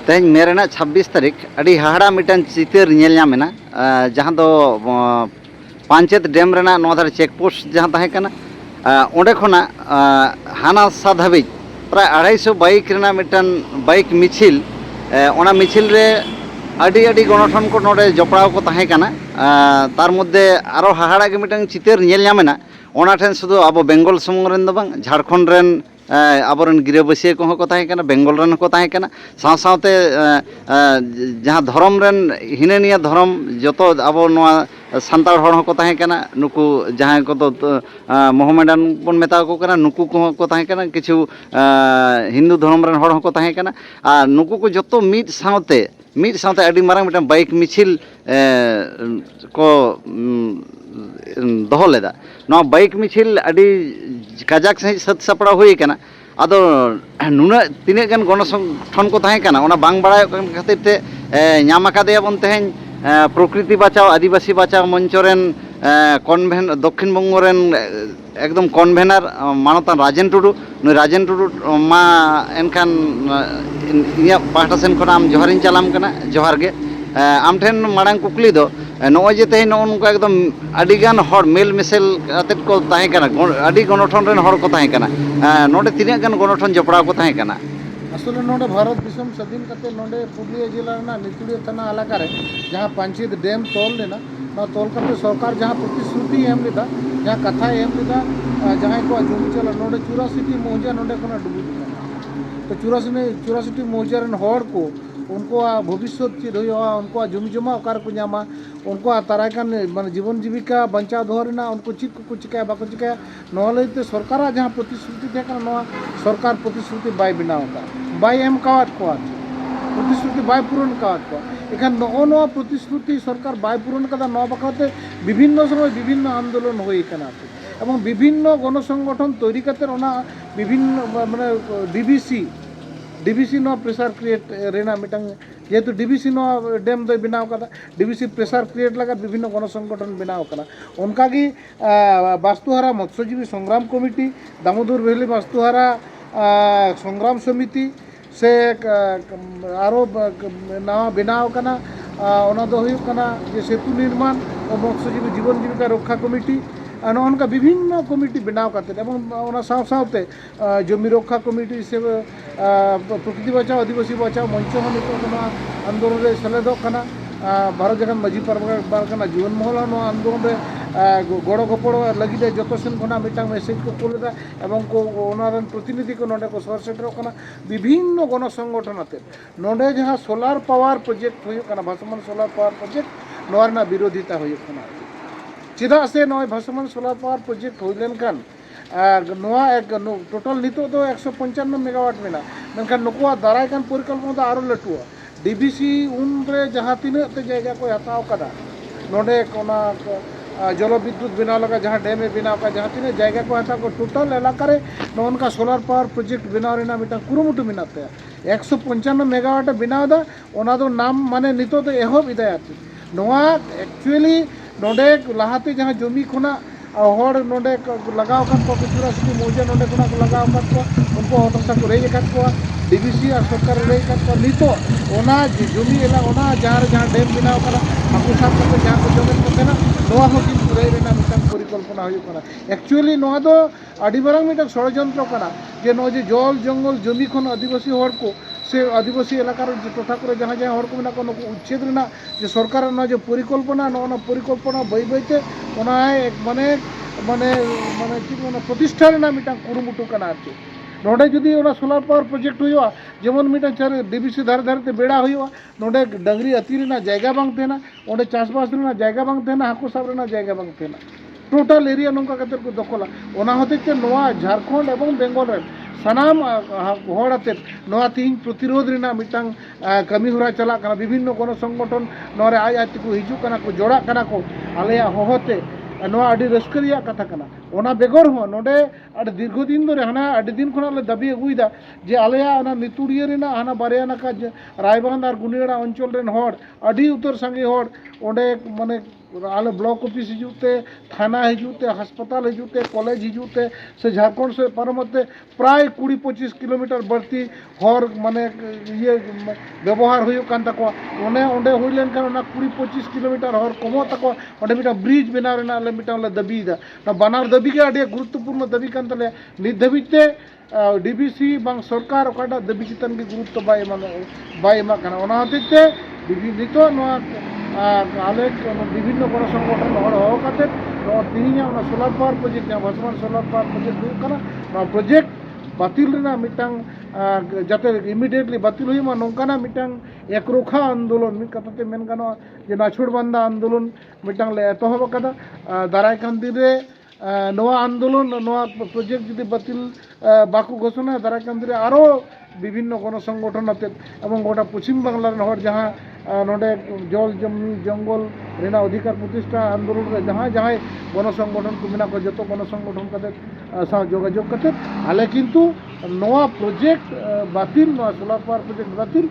ᱛᱮᱦᱮᱧ ᱢᱮ ᱨᱮᱱᱟᱜ ᱪᱷᱟᱵᱵᱤᱥ ᱛᱟᱹᱨᱤᱠᱷ ᱟᱹᱰᱤ ᱦᱟᱦᱟᱲᱟ ᱢᱤᱫᱴᱟᱝ ᱪᱤᱛᱟᱹᱨ ᱧᱮᱞ ᱧᱟᱢ ᱮᱱᱟ ᱡᱟᱦᱟᱸ ᱫᱚ ᱯᱟᱧᱪᱮᱛ ᱰᱮᱢ ᱨᱮᱱᱟᱜ ᱱᱚᱣᱟ ᱫᱷᱟᱨᱮ ᱪᱮᱠ ᱯᱳᱥᱴ ᱡᱟᱦᱟᱸ ᱛᱟᱦᱮᱸ ᱠᱟᱱᱟ ᱚᱸᱰᱮ ᱠᱷᱚᱱᱟᱜ ᱦᱟᱱᱟ ᱥᱟ ᱫᱷᱟᱹᱵᱤᱡ ᱯᱨᱟᱭ ᱟᱲᱟᱭᱥᱚ ᱵᱟᱭᱤᱠ ᱨᱮᱱᱟᱜ ᱢᱤᱫᱴᱟᱝ ᱵᱟᱭᱤᱠ ᱢᱤᱪᱷᱤᱞ ᱚᱱᱟ ᱢᱤᱪᱷᱤᱞ ᱨᱮ ᱟᱹᱰᱤ ᱟᱹᱰᱤ ᱜᱚᱱᱚᱴᱷᱚᱱ ᱠᱚ ᱱᱚᱰᱮ ᱡᱚᱯᱲᱟᱣ ᱠᱚ ᱛᱟᱦᱮᱸ ᱠᱟᱱᱟ ᱛᱟᱨ ᱢᱚᱫᱽᱫᱷᱮ ᱟᱨᱚ ᱦᱟᱦᱟᱲᱟ ᱜᱮ ᱢᱤᱫᱴᱟᱝ ᱪᱤᱛᱟᱹᱨ ᱧᱮᱞ ᱧᱟᱢ ᱮᱱᱟ ᱚᱱᱟ ᱴᱷᱮᱱ ᱥᱩᱫᱷᱩ ᱟᱵᱚ ᱵᱮᱝᱜᱚᱞ ᱥᱩᱢᱩᱝ ᱨᱮᱱ ᱫᱚ ᱵᱟᱝ ᱡᱷᱟᱲᱠᱷᱚᱸᱰ ᱨᱮᱱ ᱟᱵᱚᱨᱮᱱ ᱜᱤᱨᱟᱹᱵᱟᱹᱥᱭᱟᱹ ᱠᱚᱦᱚᱸ ᱠᱚ ᱛᱟᱦᱮᱸ ᱠᱟᱱᱟ ᱵᱮᱝᱜᱚᱞ ᱨᱮᱱ ᱦᱚᱸᱠᱚ ᱛᱟᱦᱮᱸ ᱠᱟᱱᱟ ᱥᱟᱶ ᱥᱟᱶᱛᱮ ᱡᱟᱦᱟᱸ ᱫᱷᱚᱨᱚᱢ ᱨᱮᱱ ᱦᱤᱱᱟᱹ ᱱᱤᱭᱟᱹ ᱫᱷᱚᱨᱚᱢ ᱡᱚᱛᱚ ᱟᱵᱚ ᱱᱚᱣᱟ ᱥᱟᱱᱛᱟᱲ ᱦᱚᱲ ᱦᱚᱸᱠᱚ ᱛᱟᱦᱮᱸ ᱠᱟᱱᱟ ᱱᱩᱠᱩ ᱡᱟᱦᱟᱸᱭ ᱠᱚᱫᱚ ᱢᱚᱦᱚᱢᱮᱰᱟᱱ ᱵᱚᱱ ᱢᱮᱛᱟ ᱠᱚ ᱠᱟᱱᱟ ᱱᱩᱠᱩ ᱠᱚᱦᱚᱸ ᱠᱚ ᱛᱟᱦᱮᱸ ᱠᱟᱱᱟ ᱠᱤᱪᱷᱩ ᱦᱤᱱᱫᱩ ᱫᱷᱚᱨᱚᱢ ᱨᱮᱱ ᱦᱚᱲ ᱦᱚᱸᱠᱚ ᱛᱟᱦᱮᱸ ᱠᱟᱱᱟ ᱟᱨ ᱱᱩᱠᱩ ᱠᱚ ᱡᱚᱛᱚ ᱢᱤᱫ ᱥᱟᱶᱛᱮ ᱢᱤᱫ ᱥᱟᱶᱛᱮ ᱟᱹᱰᱤ ᱢᱟᱨᱟᱝ ᱢᱤᱫᱴᱟᱝ ᱵᱟᱭᱤᱠ ᱢᱤᱪᱷᱤᱞ ᱠᱚ ᱫᱚᱦᱚ ᱞᱮᱫᱟ ᱱᱚᱣᱟ ᱵᱟᱭᱤᱠ ᱢᱤᱪᱷᱤᱞ ᱟᱹᱰᱤ ᱠᱟᱡᱟᱠ ᱥᱟᱺᱦᱤᱡ ᱥᱟᱹᱛ ᱥᱟᱯᱲᱟᱣ ᱦᱩᱭ ᱠᱟᱱᱟ ᱟᱫᱚ ᱱᱩᱱᱟᱹᱜ ᱛᱤᱱᱟᱹᱜ ᱜᱟᱱ ᱜᱚᱲᱚ ᱥᱚᱝᱜᱚᱴᱷᱚᱱ ᱠᱚ ᱛᱟᱦᱮᱸ ᱠᱟᱱᱟ ᱚᱱᱟ ᱵᱟᱝ ᱵᱟᱲᱟᱭᱚᱜ ᱠᱟᱱ ᱠᱷᱟᱹᱛᱤᱨ ᱛᱮ ᱧᱟᱢ ᱠᱟᱫᱮᱭᱟ ᱵᱚᱱ ᱛᱮᱦᱮᱧ ᱯᱨᱚᱠᱨᱤᱛᱤ ᱵᱟᱪᱷᱟᱣ ᱟᱹᱫᱤᱵᱟᱹᱥᱤ ᱵᱟᱪᱷᱟᱣ ᱢᱚᱧᱪᱚ ᱨᱮᱱ ᱠᱚᱱᱵᱷᱮᱱ ᱫᱚᱠᱠᱷᱤᱱ ᱵᱚᱝᱜᱚ ᱨᱮᱱ ᱮᱠᱫᱚᱢ ᱠᱚᱱᱵᱷᱮᱱᱟᱨ ᱢᱟᱱᱚᱛᱟᱱ ᱨᱟᱡᱮᱱ ᱴᱩᱰᱩ ᱱᱩᱭ ᱨᱟᱡᱮᱱ ᱴᱩᱰᱩ ᱢᱟ ᱮᱱᱠᱷᱟᱱ ᱤᱧᱟᱹᱜ ᱯᱟᱦᱴᱟ ᱥᱮᱱ ᱠᱷᱚᱱ ᱟᱢ ᱡᱚᱦᱟᱨᱤᱧ ᱪᱟᱞᱟᱢ ᱠᱟᱱᱟ ᱡᱚᱦᱟᱨ ᱜᱮ ᱟᱢ ᱴᱷᱮᱱ ᱢᱟᱲᱟᱝ ᱠᱩᱠᱞᱤ ᱫᱚ ᱱᱚᱜᱼᱚᱭ ᱡᱮ ᱛᱮᱦᱮᱧ ᱱᱚᱜᱼᱚ ᱱᱚᱝᱠᱟ ᱮᱠᱫᱚᱢ ᱟᱹᱰᱤ ᱜᱟᱱ ᱦᱚᱲ ᱢᱮᱞ ᱢᱮᱥᱮᱞ ᱟᱛᱮᱫ ᱠᱚ ᱛᱟᱦᱮᱸ ᱠᱟᱱᱟ ᱟᱹᱰᱤ ᱜᱚᱱᱚᱴᱷᱚᱱ ᱨᱮᱱ ᱦᱚᱲ ᱠᱚ ᱛᱟᱦᱮᱸ ᱠᱟᱱᱟ ᱱᱚᱰᱮ ᱛᱤᱱᱟᱹᱜ ᱜᱟᱱ ᱜᱚᱱᱚᱴᱷᱚᱱ ᱡᱚᱯᱲᱟᱣ ᱠᱚ ᱛᱟᱦᱮᱸ ᱠᱟᱱᱟ ᱟᱥᱚᱞᱮ ᱱᱚᱰᱮ ᱵᱷᱟᱨᱚᱛ ᱫᱤᱥᱚᱢ ᱥᱟᱹᱫᱷᱤᱱ ᱠᱟᱛᱮ ᱱᱚᱰᱮ ᱯᱩᱨᱩᱞᱤᱭᱟᱹ ᱡᱮᱞᱟ ᱨᱮᱱᱟᱜ ᱱᱤᱛᱩᱲᱤᱭᱟᱹ ᱛᱷᱟᱱᱟ ᱮᱞᱟᱠᱟ ᱨᱮ ᱡᱟᱦᱟᱸ ᱯᱟᱧᱪᱮᱛ ᱰᱮᱢ ᱛᱚᱞ ᱞᱮᱱᱟ ᱱᱚᱣᱟ ᱛᱚᱞ ᱠᱟᱛᱮ ᱥᱚᱨᱠᱟᱨ ᱡᱟᱦᱟᱸ ᱯᱨᱚᱛᱤᱥᱨᱩᱛᱤᱭ ᱮᱢ ᱞᱮᱫᱟ ᱡᱟᱦᱟᱸ ᱠᱟᱛᱷᱟᱭ ᱮᱢ ᱞᱮᱫᱟ ᱡᱟᱦᱟᱸᱭ ᱠᱚᱣᱟᱜ ᱡᱩᱢᱤ ᱪᱟᱞᱟᱜ ᱱᱚᱰᱮ ᱪᱩᱨᱟᱥᱤᱴᱤ ᱢᱚᱦᱡᱟ ᱱᱚᱰᱮ ᱠᱷᱚᱱᱟᱜ ᱰᱩᱵᱩᱡ ᱟᱠᱟᱱᱟ ᱛᱚ ᱪᱩᱨᱟᱥᱤᱴᱤ ᱪᱩᱨᱟᱥᱤᱴᱤ ᱢᱚᱦᱡᱟ ᱨᱮᱱ ᱦᱚᱲ ᱠᱚ ᱩᱱᱠᱩᱣᱟᱜ ᱵᱷᱚᱵᱤᱥᱥᱚᱛ ᱪᱮᱫ ᱦᱩᱭᱩᱜᱼᱟ ᱩᱱᱠᱩᱣᱟᱜ ᱡᱩᱢᱤ ᱡᱚᱢᱟ ᱚᱠᱟ ᱨᱮᱠᱚ ᱧᱟᱢᱟ ᱩᱱᱠᱩᱣᱟᱜ ᱫᱟᱨᱟᱭ ᱠᱟᱱ ᱢᱟᱱᱮ ᱡᱤᱵᱚᱱ ᱡᱤᱵᱤᱠᱟ ᱵᱟᱧᱪᱟᱣ ᱫᱚᱦᱚ ᱨᱮᱱᱟᱜ ᱩᱱᱠᱩ ᱪᱮᱫ ᱠᱚᱠᱚ ᱪᱤᱠᱟᱹᱭᱟ ᱵᱟᱠᱚ ᱪᱤᱠᱟᱹᱭᱟ ᱱᱚᱣᱟ ᱞᱟᱹᱭ ᱛᱮ ᱥᱚᱨᱠᱟᱨᱟᱜ ᱡᱟᱦᱟᱸ ᱯᱨᱚᱛᱤᱥᱨᱩᱛᱤ ᱛᱟᱦᱮᱸ ᱠᱟᱱᱟ ᱱᱚᱣᱟ ᱥᱚᱨᱠᱟᱨ ᱯᱨᱚᱛᱤᱥᱨᱩᱛᱤ ᱵᱟᱭ ᱵᱮᱱᱟᱣ ᱟᱠᱟᱫᱼᱟ ᱵᱟᱭ ᱮᱢ ᱠᱟᱣᱟᱫ ᱠᱚᱣᱟ ᱯᱨᱚᱛᱤᱥᱨᱩᱛᱤ ᱵᱟᱭ ᱯᱩᱨᱚᱱ ᱠᱟᱣᱟᱫ ᱠᱚᱣᱟ ᱮᱱᱠᱷᱟᱱ ᱱᱚᱜᱼᱚ ᱱᱚᱣᱟ ᱯᱨᱚᱛᱤᱥᱨᱩᱛᱤ ᱥᱚᱨᱠᱟᱨ ᱵᱟᱭ ᱯᱩᱨᱚᱱ ᱠᱟᱫᱟ ᱱᱚᱣᱟ ᱵᱟᱠᱷᱨᱟ ᱛᱮ ᱵᱤᱵᱷᱤᱱᱱᱚ ᱥᱚᱢᱚᱭ ᱵᱤᱵᱷᱤᱱᱱᱚ ᱟᱱᱫᱳᱞᱚᱱ ᱦᱩᱭ ᱟᱠᱟᱱᱟ ᱮᱵᱚᱝ ᱵᱤᱵᱷᱤᱱᱱᱚ ᱜᱚᱱᱚ ᱥᱚᱝᱜᱚᱴᱷᱚᱱ ᱛᱳᱭᱨᱤ ᱠᱟᱛᱮ ᱚᱱᱟ ᱵᱤᱵᱷᱤᱱᱱᱚ ᱢᱟᱱᱮ ᱰᱤᱵᱤᱥᱤ ᱰᱤᱵᱤᱥᱤ ᱱᱚᱣᱟ ᱯᱨᱮᱥᱟᱨ ᱠᱨᱤᱭᱮᱴ ᱨᱮᱱᱟᱜ ᱢᱤᱫᱴᱟᱝ ᱡᱮᱦᱮᱛᱩ ᱰᱤᱵᱤᱥᱤ ᱱᱚᱣᱟ ᱰᱮᱢ ᱫᱚᱭ ᱵᱮᱱᱟᱣ ᱠᱟᱫᱟ ᱰᱤᱵᱤᱥᱤ ᱯᱨᱮᱥᱟᱨ ᱠᱨᱤᱭᱮᱴ ᱞᱟᱹᱜᱤᱫ ᱵᱤᱵᱷᱤᱱᱱᱚ ᱜᱚᱱᱚ ᱥᱚᱝᱜᱚᱴᱷᱚᱱ ᱵᱮᱱᱟᱣ ᱠᱟᱱᱟ ᱚᱱᱠᱟᱜᱮ ᱵᱟᱥᱛᱩᱦᱟᱨᱟ ᱢᱚᱛᱥᱚᱡᱤᱵᱤ ᱥᱚᱝᱜᱨᱟᱢ ᱠᱚᱢᱤᱴᱤ ᱫᱟᱢᱳᱫᱚᱨ ᱵᱷᱮᱞᱤ ᱵᱟᱥᱛᱩᱦᱟᱨᱟ ᱥᱚᱝᱜᱨᱟᱢ ᱥᱚᱢᱤᱛᱤ ᱥᱮ ᱟᱨᱚ ᱱᱟᱣᱟ ᱵᱮᱱᱟᱣ ᱠᱟᱱᱟ ᱚᱱᱟ ᱫᱚ ᱦᱩᱭᱩᱜ ᱠᱟᱱᱟ ᱡᱮ ᱥᱮᱛᱩ ᱱᱤᱨᱢᱟᱱ ᱢᱚᱛᱥᱚᱡᱤᱵᱤ ᱡᱤᱵᱚᱱ ᱡᱤᱵᱤᱠᱟ ᱨᱚᱠᱠᱷᱟ ᱠᱚᱢᱤᱴᱤ ᱱᱚᱜᱼᱚ ᱱᱚᱝᱠᱟ ᱵᱤᱵᱷᱤᱱᱱᱚ ᱠᱚᱢᱤᱴᱤ ᱵᱮᱱᱟᱣ ᱠᱟᱛᱮᱫ ᱮᱵᱚᱝ ᱚᱱᱟ ᱥᱟᱶ ᱥᱟᱶᱛᱮ ᱡᱚᱢᱤ ᱨᱚᱠᱠᱷᱟ ᱠᱚᱢᱤᱴᱤ ᱥᱮ ᱯᱨᱚᱠᱨᱤᱛᱤ ᱵᱟᱪᱟᱣ ᱟᱹᱫᱤᱵᱟᱹᱥᱤ ᱵᱟᱪᱟᱣ ᱢᱚᱧᱪᱚ ᱦᱚᱸ ᱱᱤᱛᱚᱜ ᱫᱚ ᱱᱚᱣᱟ ᱟᱱᱫᱳᱞᱚᱱ ᱨᱮ ᱥᱮᱞᱮᱫᱚᱜ ᱠᱟᱱᱟ ᱵᱷᱟᱨᱚᱛ ᱡᱟᱠᱟᱛ ᱢᱟᱹᱡᱷᱤ ᱯᱟᱨᱜᱟᱱᱟ ᱡᱩᱣᱟᱹᱱ ᱢᱚᱦᱚᱞ ᱦᱚᱸ ᱱᱚᱣᱟ ᱟᱱᱫᱳᱞᱚᱱ ᱨᱮ ᱜᱚᱲᱚ ᱜᱚᱯᱚᱲᱚ ᱞᱟᱹᱜᱤᱫ ᱛᱮ ᱡᱚᱛᱚ ᱥᱮᱱ ᱠᱷᱚᱱᱟᱜ ᱢᱤᱫᱴᱟᱝ ᱢᱮᱥᱮᱡᱽ ᱠᱚ ᱠᱩᱞ ᱮᱫᱟ ᱮᱵᱚᱝ ᱠᱚ ᱚᱱᱟ ᱨᱮᱱ ᱯᱨᱚᱛᱤᱱᱤᱫᱷᱤ ᱠᱚ ᱱᱚᱰᱮ ᱠᱚ ᱥᱚᱦᱚᱨ ᱥᱮᱴᱮᱨᱚᱜ ᱠᱟᱱᱟ ᱵᱤᱵᱷᱤᱱᱱᱚ ᱜᱚᱱᱚ ᱥᱚᱝᱜᱚᱴᱷᱚᱱ ᱟᱛᱮ ᱱᱚᱰᱮ ᱡᱟᱦᱟᱸ ᱥᱳᱞᱟᱨ ᱯᱟᱣᱟᱨ ᱯᱨᱚᱡᱮᱠᱴ ᱦᱩᱭᱩᱜ ᱠᱟᱱᱟ ᱵᱷᱟᱥᱚᱢᱟᱱ ᱥᱳᱞᱟᱨ ᱯᱟᱣᱟᱨ ᱯᱨᱚᱡᱮᱠᱴ ᱱᱚᱣᱟ ᱨᱮᱱᱟᱜ ᱵᱤᱨᱳᱫᱷᱤᱛᱟ ᱦᱩᱭᱩᱜ ᱠᱟᱱᱟ ᱪᱮᱫᱟᱜ ᱥᱮ ᱱᱚᱜᱼᱚᱭ ᱵᱷᱟᱥᱚᱢᱟᱱ ᱥᱳᱞᱟᱨ ᱯᱟᱣᱟᱨ ᱯᱨᱚᱡᱮᱠᱴ ᱦᱩᱭ ᱞᱮᱱᱠᱷᱟᱱ ᱟᱨ ᱱᱚᱣᱟ ᱴᱳᱴᱟᱞ ᱱᱤᱛᱚᱜ ᱫᱚ ᱮᱠᱥᱚ ᱯᱚᱧᱪᱟᱱᱱᱚ ᱢᱮᱜᱟᱣᱟᱴ ᱢᱮᱱᱟᱜᱼᱟ ᱢᱮᱱᱠᱷᱟᱱ ᱱᱩᱠᱩᱣᱟᱜ ᱫᱟᱨᱟᱭ ᱠᱟᱱ ᱯᱚᱨᱤᱠᱚᱞᱯᱚᱱᱟ ᱫᱚ ᱟᱨᱚ ᱞᱟᱹᱴᱩᱣᱟ ᱰᱤ ᱵᱷᱤ ᱥᱤ ᱩᱱ ᱨᱮ ᱡᱟᱦᱟᱸ ᱛᱤᱱᱟᱹᱜ ᱛᱮ ᱡᱟᱭᱜᱟ ᱠᱚᱭ ᱦᱟᱛᱟᱣ ᱠᱟᱫᱟ ᱱᱚᱰᱮ ᱚᱱᱟ ᱡᱚᱞᱚ ᱵᱤᱫᱽᱫᱩᱛ ᱵᱮᱱᱟᱣ ᱞᱟᱜᱟᱜ ᱡᱟᱦᱟᱸ ᱰᱮᱢ ᱮ ᱵᱮᱱᱟᱣ ᱠᱟᱜ ᱡᱟᱦᱟᱸ ᱛᱤᱱᱟᱹᱜ ᱡᱟᱭᱜᱟ ᱠᱚᱭ ᱦᱟᱛᱟᱣ ᱠᱟᱫᱟ ᱴᱳᱴᱟᱞ ᱮᱞᱟᱠᱟ ᱨᱮ ᱱᱚᱜᱼᱚ ᱱᱚᱝᱠᱟ ᱥᱳᱞᱟᱨ ᱯᱟᱣᱟᱨ ᱯᱨᱚᱡᱮᱠᱴ ᱵᱮᱱᱟᱣ ᱨᱮᱱᱟᱜ ᱢᱤᱫᱴᱟᱝ ᱠᱩᱨᱩᱢᱩᱴᱩ ᱢᱮᱱᱟᱜ ᱛᱟᱭᱟ ᱮᱠᱥᱚ ᱯᱚᱧᱪᱟᱱᱱᱚ ᱢᱮᱜᱟᱣᱟᱴ ᱮ ᱵᱮᱱᱟᱣᱫᱟ ᱚᱱᱟ ᱫᱚ ᱱᱟᱢ ᱢᱟᱱᱮ ᱱᱤᱛᱚᱜ ᱫᱚ ᱮᱦᱚᱵ ᱮᱫᱟᱭ ᱟᱨ ᱪᱮᱫ ᱱᱚᱣᱟ ᱮᱠᱪᱩᱭᱮᱞᱤ ᱱᱚᱰᱮ ᱞᱟᱦᱟᱛᱮ ᱡᱟᱦᱟᱸ ᱡᱚᱢᱤ ᱠᱷᱚᱱᱟᱜ ᱦᱚᱲ ᱱᱚᱰᱮ ᱞᱟᱜᱟᱣ ᱟᱠᱟᱫ ᱠᱚᱣᱟ ᱠᱚ ᱪᱩᱨᱟᱥᱤᱴᱤ ᱢᱳᱣᱡᱟ ᱱᱚᱰᱮ ᱠᱷᱚᱱᱟᱜ ᱠᱚ ᱞᱟᱜᱟᱣ ᱟᱠᱟᱫ ᱠᱚᱣᱟ ᱩᱱᱠᱩ ᱦᱚᱲ ᱦᱟᱥᱟ ᱠᱚ ᱨᱮᱡ ᱟᱠᱟᱫ ᱠᱚᱣᱟ ᱰᱤ ᱵᱷᱤ ᱥᱤ ᱟᱨ ᱥᱚᱨᱠᱟᱨᱮ ᱨᱮᱡ ᱟᱠᱟᱫ ᱠᱚᱣᱟ ᱱᱤᱛᱚᱜ ᱚᱱᱟ ᱡᱚᱢᱤ ᱮᱞᱟ ᱚᱱᱟ ᱡᱟᱦᱟᱸ ᱨᱮ ᱡᱟᱦᱟᱸ ᱰᱮᱢ ᱵᱮᱱᱟᱣ ᱟᱠᱟᱱᱟ ᱦᱟᱹᱠᱩ ᱥᱟᱵ ᱠᱟᱛᱮ ᱡᱟᱦᱟᱸ ᱠᱚ ᱡᱚᱢᱮᱫ ᱠᱚ ᱛᱟᱦᱮᱱᱟ ᱱᱚᱣᱟ ᱦᱚᱸ ᱠᱤᱱᱛᱩ ᱨᱮᱡ ᱨᱮᱱᱟᱜ ᱢᱤᱫᱴᱟᱝ ᱯᱚᱨᱤᱠᱚᱞᱯᱚᱱᱟ ᱦᱩᱭᱩᱜ ᱠᱟᱱᱟ ᱮᱠᱪᱩᱭᱮᱞᱤ ᱱᱚᱣᱟ ᱫᱚ ᱟᱹᱰᱤ ᱢᱟᱨᱟᱝ ᱢᱤᱫᱴᱟᱝ ᱥᱚᱲᱚᱡᱚᱱᱛᱨᱚ ᱠᱟᱱᱟ ᱡᱮ ᱱᱚᱜᱼᱚᱭ ᱡᱮ ᱡᱚᱞ ᱡᱚᱝᱜᱚᱞ ᱡᱚᱢᱤ ᱠᱷᱚᱱ ᱟᱹᱫᱤᱵᱟᱹᱥᱤ ᱦᱚᱲ ᱠᱚ ᱥᱮ ᱟᱹᱫᱤᱵᱟᱹᱥᱤ ᱮᱞᱟᱠᱟ ᱨᱮ ᱴᱚᱴᱷᱟ ᱠᱚᱨᱮ ᱡᱟᱦᱟᱸ ᱡᱟᱦᱟᱸ ᱦᱚᱲ ᱠᱚ ᱢᱮᱱᱟᱜ ᱠᱚᱣᱟ ᱱᱩᱠᱩ ᱩᱪᱪᱷᱮᱫᱽ ᱨᱮᱱᱟᱜ ᱡᱮ ᱥᱚᱨᱠᱟᱨᱟᱜ ᱱᱚᱣᱟ ᱡᱮ ᱯᱚᱨᱤᱠᱚᱞᱯᱚᱱᱟ ᱱᱚᱜᱼᱚ ᱱᱚᱣᱟ ᱯᱚᱨᱤᱠᱚᱞᱯᱚᱱᱟ ᱵᱟᱹᱭ ᱵᱟᱹᱭ ᱛᱮ ᱚᱱᱟᱭ ᱢᱟᱱᱮ ᱢᱟᱱᱮ ᱢᱟᱱᱮ ᱪᱮᱫ ᱚᱱᱟ ᱯᱨᱚᱛᱤᱥᱴᱷᱟ ᱨᱮᱱᱟᱜ ᱢᱤᱫᱴᱟᱝ ᱠᱩᱨᱩᱢᱩᱴᱩ ᱠᱟᱱᱟ ᱟᱨ ᱪᱮᱫ ᱱᱚᱰᱮ ᱡᱩᱫᱤ ᱚᱱᱟ ᱥᱳᱞᱟᱨ ᱯᱟᱣᱟᱨ ᱯᱨᱚᱡᱮᱠᱴ ᱦᱩᱭᱩᱜᱼᱟ ᱡᱮᱢᱚᱱ ᱢᱤᱫᱴᱟᱝ ᱪᱟᱨᱮ ᱰᱤᱵᱤᱥᱤ ᱫᱷᱟᱨᱮ ᱫᱷᱟᱨᱮ ᱛᱮ ᱵᱮᱲᱟ ᱦᱩᱭᱩᱜᱼᱟ ᱱᱚᱰᱮ ᱰᱟᱹᱝᱨᱤ ᱟᱹᱛᱤᱧ ᱨᱮᱱᱟᱜ ᱡᱟᱭᱜᱟ ᱵᱟᱝ ᱛᱟᱦᱮᱱᱟ ᱚᱸᱰᱮ ᱪᱟᱥᱵᱟᱥ ᱨᱮᱱᱟᱜ ᱡᱟᱭᱜᱟ ᱵᱟᱝ ᱛᱟᱦᱮᱱᱟ ᱦᱟᱹᱠᱩ ᱥᱟᱵ ᱨᱮᱱᱟᱜ ᱡᱟᱭᱜᱟ ᱵᱟᱝ ᱛᱟᱦᱮᱱᱟ ᱴᱳᱴᱟᱞ ᱮᱨᱤᱭᱟ ᱱᱚᱝᱠᱟ ᱠᱟᱛᱮ ᱠᱚ ᱫᱚᱠᱷᱚᱞᱟ ᱚᱱᱟ ᱦᱚᱛᱮᱡ ᱛᱮ ᱱᱚᱣᱟ ᱡᱷᱟᱲᱠᱷᱚᱸᱰ ᱮᱵᱚᱝ ᱵᱮᱝᱜᱚᱞ ᱨᱮ ᱥᱟᱱᱟᱢ ᱦᱚᱲ ᱟᱛᱮ ᱱᱚᱣᱟ ᱛᱤᱦᱤᱧ ᱯᱨᱚᱛᱤᱨᱳᱫᱷ ᱨᱮᱱᱟᱜ ᱢᱤᱫᱴᱟᱝ ᱠᱟᱹᱢᱤ ᱦᱚᱨᱟ ᱪᱟᱞᱟᱜ ᱠᱟᱱᱟ ᱵᱤᱵᱷᱤᱱᱱᱚ ᱜᱚᱱᱚ ᱥᱚᱝᱜᱚᱴᱷᱚᱱ ᱱᱚᱣᱟ ᱨᱮ ᱟᱡ ᱟᱡ ᱛᱮᱠᱚ ᱦᱤᱡᱩᱜ ᱠᱟᱱᱟ ᱠᱚ ᱡᱚᱲᱟᱜ ᱠᱟᱱᱟ ᱠᱚ ᱟᱞᱮᱭᱟᱜ ᱦᱚᱦᱚ ᱛᱮ ᱱᱚᱣᱟ ᱟᱹᱰᱤ ᱨᱟᱹᱥᱠᱟᱹ ᱨᱮᱭᱟᱜ ᱠᱟᱛᱷᱟ ᱠᱟᱱᱟ ᱚᱱᱟ ᱵᱮᱜᱚᱨ ᱦᱚᱸ ᱱᱚᱰᱮ ᱟᱹᱰᱤ ᱫᱤᱨᱜᱷᱚ ᱫᱤᱱ ᱫᱷᱚᱨᱮ ᱦᱟᱱᱟ ᱟᱹᱰᱤ ᱫᱤᱱ ᱠᱷᱚᱱᱟᱜ ᱞᱮ ᱫᱟᱹᱵᱤ ᱟᱹᱜᱩᱭᱮᱫᱟ ᱡᱮ ᱟᱞᱮᱭᱟᱜ ᱚᱱᱟ ᱱᱤᱛᱩᱲᱤᱭᱟᱹ ᱨᱮᱱᱟᱜ ᱦᱟᱱᱟ ᱵᱟᱨᱭᱟ ᱱᱟᱠᱷᱟ ᱨᱟᱭᱵᱟᱸᱫᱷ ᱟᱨ ᱜᱩᱱᱤᱭᱟᱲᱟ ᱚᱧᱪᱚᱞ ᱨᱮᱱ ᱦᱚᱲ ᱟᱹᱰᱤ ᱩᱛᱟᱹᱨ ᱥᱟᱸᱜᱮ ᱦᱚᱲ ᱚᱸᱰᱮ ᱢᱟᱱᱮ ᱟᱞᱮ ᱵᱞᱚᱠ ᱚᱯᱷᱤᱥ ᱦᱤᱡᱩᱜ ᱛᱮ ᱛᱷᱟᱱᱟ ᱦᱤᱡᱩᱜ ᱛᱮ ᱦᱟᱥᱯᱟᱛᱟᱞ ᱦᱤᱡᱩᱜ ᱛᱮ ᱠᱚᱞᱮᱡᱽ ᱦᱤᱡᱩᱜ ᱛᱮ ᱥᱮ ᱡᱷᱟᱲᱠᱷᱚᱸᱰ ᱥᱮᱫ ᱯᱟᱨᱚᱢᱚᱜ ᱛᱮ ᱯᱨᱟᱭ ᱠᱩᱲᱤ ᱯᱚᱸᱪᱤᱥ ᱠᱤᱞᱳᱢᱤᱴᱟᱨ ᱵᱟᱹᱲᱛᱤ ᱦᱚᱨ ᱢᱟᱱᱮ ᱤᱭᱟᱹ ᱵᱮᱵᱚᱦᱟᱨ ᱦᱩᱭᱩᱜ ᱠᱟᱱ ᱛᱟᱠᱚᱣᱟ ᱚᱱᱮ ᱚᱸᱰᱮ ᱦᱩᱭ ᱞᱮᱱᱠᱷᱟᱱ ᱚᱱᱟ ᱠᱩᱲᱤ ᱯᱚᱸᱪᱤᱥ ᱠᱤᱞᱳᱢᱤᱴᱟᱨ ᱦᱚᱨ ᱠᱚᱢᱚᱜ ᱛᱟᱠᱚᱣᱟ ᱚᱸᱰᱮ ᱢᱤᱫᱴᱟᱝ ᱵᱨᱤᱡᱽ ᱵᱮᱱᱟᱣ ᱨᱮᱱᱟᱜ ᱟᱞᱮ ᱢᱤᱫᱴᱟᱝ ᱞᱮ ᱫᱟᱹᱵᱤᱭᱮᱫᱟ ᱵᱟᱱᱟᱨ ᱫᱟᱹᱵᱤ ᱜᱮ ᱟᱹᱰᱤ ᱜᱩᱨᱩᱛᱛᱚᱯᱩᱨᱱᱚ ᱫᱟᱹᱵᱤ ᱠᱟᱱ ᱛᱟᱞᱮᱭᱟ ᱱᱤᱛ ᱫᱷᱟᱹᱵᱤᱡ ᱛᱮ ᱰᱤᱵᱤᱥᱤ ᱵᱟᱝ ᱥᱚᱨᱠᱟᱨ ᱚᱠᱟᱴᱟᱜ ᱫᱟᱹᱵᱤ ᱪᱮᱛᱟᱱ ᱜᱮ ᱜᱩᱨᱩᱛᱛᱚ ᱵᱟᱭ ᱮᱢᱟ ᱵᱟᱭ ᱮᱢᱟᱜ ᱠᱟᱱᱟ ᱚᱱᱟ ᱦᱚᱛᱮᱡ ᱛᱮ ᱱᱤᱛᱚᱜ ᱱᱚᱣᱟ ᱟᱞᱮ ᱵᱤᱵᱷᱤᱱᱱᱚ ᱜᱚᱲᱚ ᱥᱚᱝᱜᱚᱴᱷᱚᱱ ᱦᱚᱲ ᱦᱚᱦᱚ ᱠᱟᱛᱮ ᱱᱚᱣᱟ ᱛᱮᱦᱮᱧᱟᱜ ᱚᱱᱟ ᱥᱳᱞᱟᱨ ᱯᱟᱣᱟᱨ ᱯᱨᱚᱡᱮᱠᱴ ᱡᱟᱦᱟᱸ ᱵᱷᱟᱥᱚᱢᱟᱱ ᱥᱳᱞᱟᱨ ᱯᱟᱣᱟᱨ ᱯᱨᱚᱡᱮᱠᱴ ᱦᱩᱭᱩᱜ ᱠᱟᱱᱟ ᱱᱚᱣᱟ ᱯᱨᱚᱡᱮᱠᱴ ᱵᱟᱹᱛᱤᱞ ᱨᱮᱱᱟᱜ ᱢᱤᱫᱴᱟᱝ ᱡᱟᱛᱮ ᱤᱢᱤᱰᱤᱭᱮᱴᱞᱤ ᱵᱟᱹᱛᱤᱞ ᱦᱩᱭᱩᱜ ᱢᱟ ᱱᱚᱝᱠᱟᱱᱟᱜ ᱢᱤᱫᱴᱟᱝ ᱮᱠᱨᱚᱠᱷᱟ ᱟᱱᱫᱳᱞᱚᱱ ᱢᱤᱫ ᱠᱟᱛᱷᱟ ᱛᱮ ᱢᱮᱱ ᱜᱟᱱᱚᱜᱼᱟ ᱡᱮ ᱱᱟᱪᱷᱚᱲᱵᱟᱱᱫᱟ ᱟᱱᱫᱳᱞᱚᱱ ᱢᱤᱫᱴᱟᱝ ᱞᱮ ᱮᱛᱚᱦᱚᱵ ᱟᱠᱟᱫᱟ ᱫᱟᱨᱟᱭ ᱠᱟᱱ ᱫᱤᱱ ᱨᱮ ᱱᱚᱣᱟ ᱟᱱᱫᱳᱞᱚᱱ ᱱᱚᱣᱟ ᱯᱨᱚᱡᱮᱠᱴ ᱡᱩᱫᱤ ᱵᱟᱹᱛᱤᱞ ᱵᱟᱠᱚ ᱜᱷᱳᱥᱚᱱᱟᱭᱟ ᱫᱟᱨᱟᱭ ᱠᱟᱱ ᱫᱤᱱ ᱨᱮ ᱟᱨᱚ ᱵᱤᱵᱷᱤᱱᱱᱚ ᱜᱚᱱᱚ ᱥᱚᱝᱜᱚᱴᱷᱚᱱ ᱟᱛᱮᱫ ᱮᱵᱚᱝ ᱜᱚᱴᱟ ᱯᱚᱪᱷᱤᱢ ᱵᱟᱝᱞᱟ ᱨᱮᱱ ᱦᱚᱲ ᱡᱟᱦᱟᱸ ᱱᱚᱰᱮ ᱡᱚᱞ ᱡᱚᱢᱤ ᱡᱚᱝᱜᱚᱞ ᱨᱮᱱᱟᱜ ᱚᱫᱷᱤᱠᱟᱨ ᱯᱨᱚᱛᱤᱥᱴᱷᱟ ᱟᱱᱫᱳᱞᱚᱱ ᱨᱮ ᱡᱟᱦᱟᱸᱭ ᱡᱟᱦᱟᱸᱭ ᱜᱚᱱᱚ ᱥᱚᱝᱜᱚᱴᱷᱚᱱ ᱠᱚ ᱢᱮᱱᱟᱜ ᱠᱚᱣᱟ ᱡᱚᱛᱚ ᱜᱚᱱᱚ ᱥᱚᱝᱜᱚᱴᱷᱚᱱ ᱠᱟᱛᱮᱫ ᱥᱟᱶ ᱡᱳᱜᱟᱡᱳᱜᱽ ᱠᱟᱛᱮᱫ ᱟᱞᱮ ᱠᱤᱱᱛᱩ ᱱᱚᱣᱟ ᱯᱨᱚᱡᱮᱠᱴ ᱵᱟᱹᱛᱤᱞ ᱱᱚᱣᱟ ᱥᱳᱞᱟᱨ ᱯᱟᱣᱟᱨ ᱯᱨᱚᱡᱮᱠᱴ ᱵᱟᱹᱛᱤᱞ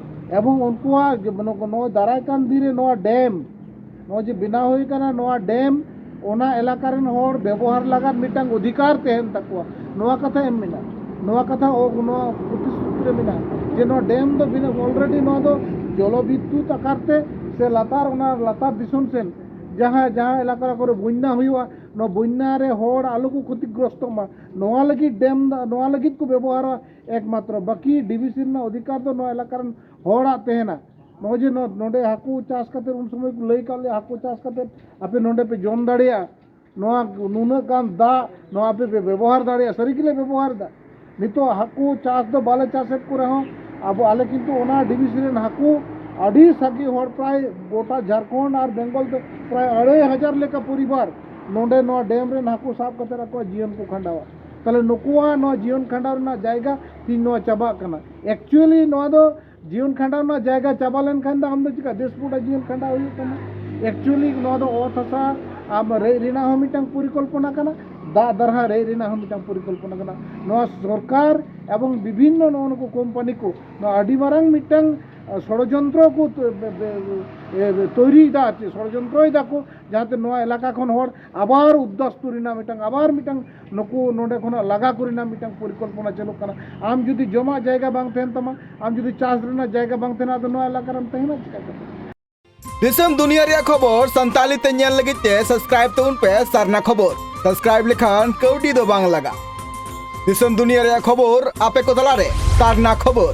ᱮᱵᱚᱝ ᱩᱱᱠᱩᱣᱟᱜ ᱱᱚᱣᱟ ᱫᱟᱨᱟᱭ ᱠᱟᱱ ᱫᱤᱱ ᱨᱮ ᱱᱚᱣᱟ ᱰᱮᱢ ᱱᱚᱜᱼᱚᱭ ᱡᱮ ᱵᱮᱱᱟᱣ ᱦᱩᱭ ᱠᱟᱱᱟ ᱱᱚᱣᱟ ᱰᱮᱢ ᱚᱱᱟ ᱮᱞᱟᱠᱟ ᱨᱮᱱ ᱦᱚᱲ ᱵᱮᱵᱚᱦᱟᱨ ᱞᱟᱜᱟᱫ ᱢᱤᱫᱴᱟᱝ ᱚᱫᱷᱤᱠᱟᱨ ᱛᱟᱦᱮᱱ ᱛᱟᱠᱚᱣᱟ ᱱᱚᱣᱟ ᱠᱟᱛᱷᱟ ᱮᱢ ᱢᱮᱱᱟᱜᱼᱟ ᱱᱚᱣᱟ ᱠᱟᱛᱷᱟ ᱱᱚᱣᱟ ᱯᱨᱚᱛᱤᱥᱨᱩᱛᱤ ᱨᱮ ᱢᱮᱱᱟᱜᱼᱟ ᱡᱮ ᱱᱚᱣᱟ ᱰᱮᱢ ᱫᱚ ᱚᱞᱨᱮᱰᱤ ᱱᱚᱣᱟ ᱫᱚ ᱡᱚᱞᱚ ᱵᱤᱫᱽᱫᱩᱛ ᱟᱠᱟᱨ ᱛᱮ ᱥᱮ ᱞᱟᱛᱟᱨ ᱚᱱᱟ ᱞᱟᱛᱟᱨ ᱫᱤᱥᱚᱢ ᱥᱮᱱ ᱡᱟᱦᱟᱸ ᱡᱟᱦᱟᱸ ᱮᱞᱟᱠᱟ ᱠᱚᱨᱮ ᱵᱚᱱᱱᱟ ᱦᱩᱭᱩᱜᱼᱟ ᱱᱚᱣᱟ ᱵᱚᱱᱱᱟ ᱨᱮ ᱦᱚᱲ ᱟᱞᱚ ᱠᱚ ᱠᱷᱚᱛᱤᱜᱨᱚᱥᱛᱚᱜ ᱢᱟ ᱱᱚᱣᱟ ᱞᱟᱹᱜᱤᱫ ᱰᱮᱢ ᱫᱚ ᱱᱚᱣᱟ ᱞᱟᱹᱜᱤᱫ ᱠᱚ ᱵᱮᱵᱚᱦᱟᱨᱟ ᱮᱠᱢᱟᱛᱨᱚ ᱵᱟᱹᱠᱤ ᱰᱤᱵᱷᱤᱥᱤ ᱨᱮᱱᱟᱜ ᱚᱫᱷᱤᱠᱟᱨ ᱫᱚ ᱱᱚᱣᱟ ᱮᱞᱟᱠᱟ ᱨᱮᱱ ᱦᱚᱲᱟᱜ ᱛᱟᱦᱮᱱᱟ ᱱᱚᱜᱼᱚᱭ ᱡᱮ ᱱᱚᱰᱮ ᱦᱟᱹᱠᱩ ᱪᱟᱥ ᱠᱟᱛᱮ ᱩᱱ ᱥᱚᱢᱚᱭ ᱠᱚ ᱞᱟᱹᱭ ᱠᱟᱜ ᱞᱮᱭᱟ ᱦᱟᱹᱠᱩ ᱪᱟᱥ ᱠᱟᱛᱮ ᱟᱯᱮ ᱱᱚᱰᱮ ᱯᱮ ᱡᱚᱢ ᱫᱟᱲᱮᱭᱟᱜᱼᱟ ᱱᱚᱣᱟ ᱱᱩᱱᱟᱹᱜ ᱜᱟᱱ ᱫᱟᱜ ᱱᱚᱣᱟ ᱟᱯᱮ ᱯᱮ ᱵᱮᱵᱚᱦᱟᱨ ᱫᱟᱲᱮᱭᱟᱜᱼᱟ ᱥᱟᱹᱨᱤ ᱜᱮᱞᱮ ᱵᱮᱵᱚᱦᱟᱨ ᱮᱫᱟ ᱱᱤᱛᱚᱜ ᱦᱟᱹᱠᱩ ᱪᱟᱥ ᱫᱚ ᱵᱟᱞᱮ ᱪᱟᱥᱮᱫ ᱠᱚ ᱨᱮᱦᱚᱸ ᱟᱵᱚ ᱟᱞᱮ ᱠᱤᱱᱛᱩ ᱚᱱᱟ ᱰᱤᱵᱷᱤᱥᱤ ᱨᱮᱱ ᱦᱟᱹᱠᱩ ᱟᱹᱰᱤ ᱥᱟᱸᱜᱮ ᱦᱚᱲ ᱯᱨᱟᱭ ᱜᱚᱴᱟ ᱡᱷᱟᱲᱠᱷᱚᱸᱰ ᱟᱨ ᱵᱮᱝᱜᱚᱞ ᱫᱚ ᱯᱨᱟᱭ ᱟᱹᱲᱟᱹᱭ ᱦᱟᱡᱟᱨ ᱞᱮᱠᱟ ᱯᱚᱨᱤᱵᱟᱨ ᱱᱚᱰᱮ ᱱᱚᱣᱟ ᱰᱮᱢ ᱨᱮᱱ ᱦᱟᱹᱠᱩ ᱥᱟᱵ ᱠᱟᱛᱮ ᱟᱠᱚᱣᱟᱜ ᱡᱤᱭᱚᱱ ᱠᱚ ᱠᱷᱟᱸᱰᱟᱣᱟ ᱛᱟᱦᱚᱞᱮ ᱱᱩᱠᱩᱣᱟᱜ ᱱᱚᱣᱟ ᱡᱤᱭᱚᱱ ᱠᱷᱟᱸᱰᱟᱣ ᱨᱮᱱᱟᱜ ᱡᱟᱭᱜᱟ ᱛᱤᱧ ᱱᱚᱣᱟ ᱪᱟᱵᱟᱜ ᱠᱟᱱᱟ ᱮᱠᱪᱩᱭᱮᱞᱤ ᱱᱚᱣᱟ ᱫᱚ ᱡᱤᱭᱚᱱ ᱠᱷᱟᱸᱰᱟᱣ ᱨᱮᱱᱟᱜ ᱡᱟᱭᱜᱟ ᱪᱟᱵᱟ ᱞᱮᱱᱠᱷᱟᱱ ᱫᱚ ᱟᱢ ᱫᱚ ᱪᱤᱠᱟ ᱫᱮᱥ ᱯᱩᱨᱟ ᱡᱤᱭᱚᱱ ᱠᱷᱟᱸᱰᱟᱣ ᱦᱩᱭᱩᱜ ᱛᱟᱢᱟ ᱮᱠᱪᱩᱭᱮᱞᱤ ᱱᱚᱣᱟ ᱫᱚ ᱚᱛ ᱦᱟᱥᱟ ᱟᱢ ᱨᱮᱡ ᱨᱮᱱᱟᱜ ᱦᱚᱸ ᱢᱤᱫᱴᱟᱝ ᱯᱚᱨᱤᱠᱚᱞᱯᱚᱱᱟ ᱠᱟᱱᱟ ᱫᱟᱜ ᱫᱟᱨᱦᱟ ᱨᱮᱡ ᱨᱮᱱᱟᱜ ᱦᱚᱸ ᱢᱤᱫᱴᱟᱝ ᱯᱚᱨᱤᱠᱚᱞᱯᱚᱱᱟ ᱠᱟᱱᱟ ᱱᱚᱣᱟ ᱥᱚᱨᱠᱟᱨ ᱮᱵᱚᱝ ᱵᱤᱵᱷᱤᱱᱱᱚ ᱱᱚᱜᱼᱚ ᱱᱩᱠᱩ ᱠᱳᱢᱯᱟᱱᱤ ᱠᱚ ᱱᱚᱣᱟ ᱟᱹᱰᱤ ᱢᱟᱨᱟᱝ ᱢᱤᱫᱴᱟᱝ ষড়যন্ত্র ᱠᱚ ᱛᱚᱭᱨᱤᱭᱮᱫᱟ ᱟᱨ ᱪᱮᱫ ᱥᱚᱲᱡᱚᱱᱛᱨᱚᱭ ᱫᱟᱠᱚ ᱡᱟᱦᱟᱸᱛᱮ ᱱᱚᱣᱟ ᱮᱞᱟᱠᱟ ᱠᱷᱚᱱ ᱦᱚᱲ ᱟᱵᱟᱨ ᱩᱫᱽᱫᱟᱥᱯᱩᱨ ᱨᱮᱱᱟᱜ ᱢᱤᱫᱴᱟᱝ ᱟᱵᱟᱨ ᱢᱤᱫᱴᱟᱝ ᱱᱩᱠᱩ ᱱᱚᱰᱮ ᱠᱷᱚᱱᱟᱜ ᱞᱟᱜᱟ ᱠᱚ ᱨᱮᱱᱟᱜ ᱢᱤᱫᱴᱟᱝ ᱯᱚᱨᱤᱠᱚᱞᱯᱚᱱᱟ ᱪᱟᱹᱞᱩᱜ ᱠᱟᱱᱟ ᱟᱢ ᱡᱩᱫᱤ ᱡᱚᱢᱟᱜ ᱡᱟᱭᱜᱟ ᱵᱟᱝ ᱛᱟᱦᱮᱱ ᱛᱟᱢᱟ ᱟᱢ ᱡᱩᱫᱤ ᱪᱟᱥ ᱨᱮᱱᱟᱜ ᱡᱟᱭᱜᱟ ᱵᱟᱝ ᱛᱟᱦᱮᱱᱟ ᱟᱫᱚ ᱱᱚᱣᱟ ᱮᱞᱟᱠᱟ ᱨᱮᱢ ᱛᱟᱦᱮᱱᱟ ᱪᱤᱠᱟ ᱠᱟᱛᱮ ᱫᱤᱥᱚᱢ ᱫᱩᱱᱤᱭᱟᱹ ᱨᱮᱭᱟᱜ ᱠᱷᱚᱵᱚᱨ ᱥᱟᱱᱛᱟᱞᱤ ᱛᱮ ᱧᱮᱞ ᱞᱟᱹᱜᱤᱫ ᱛᱮ ᱥᱟᱵᱥᱠᱨᱟᱭᱤᱵ ᱛᱟᱵᱚᱱ ᱯᱮ ᱥᱟᱨᱱᱟ ᱠᱷᱚᱵᱚᱨ ᱥᱟᱵᱥᱠᱨᱟᱭᱤᱵ ᱞᱮᱠᱷᱟᱱ ᱠᱟᱹᱣᱰᱤ ᱫᱚ ᱵᱟᱝ ᱞᱟᱜᱟ ᱫᱤᱥᱚᱢ ᱫᱩᱱᱤᱭᱟᱹ ᱨᱮᱭᱟᱜ ᱠᱷᱚᱵᱚᱨ ᱟᱯᱮ ᱠᱚ ᱛᱟᱞᱟᱨᱮ ᱥᱟᱨᱱᱟ ᱠᱷᱚᱵᱚᱨ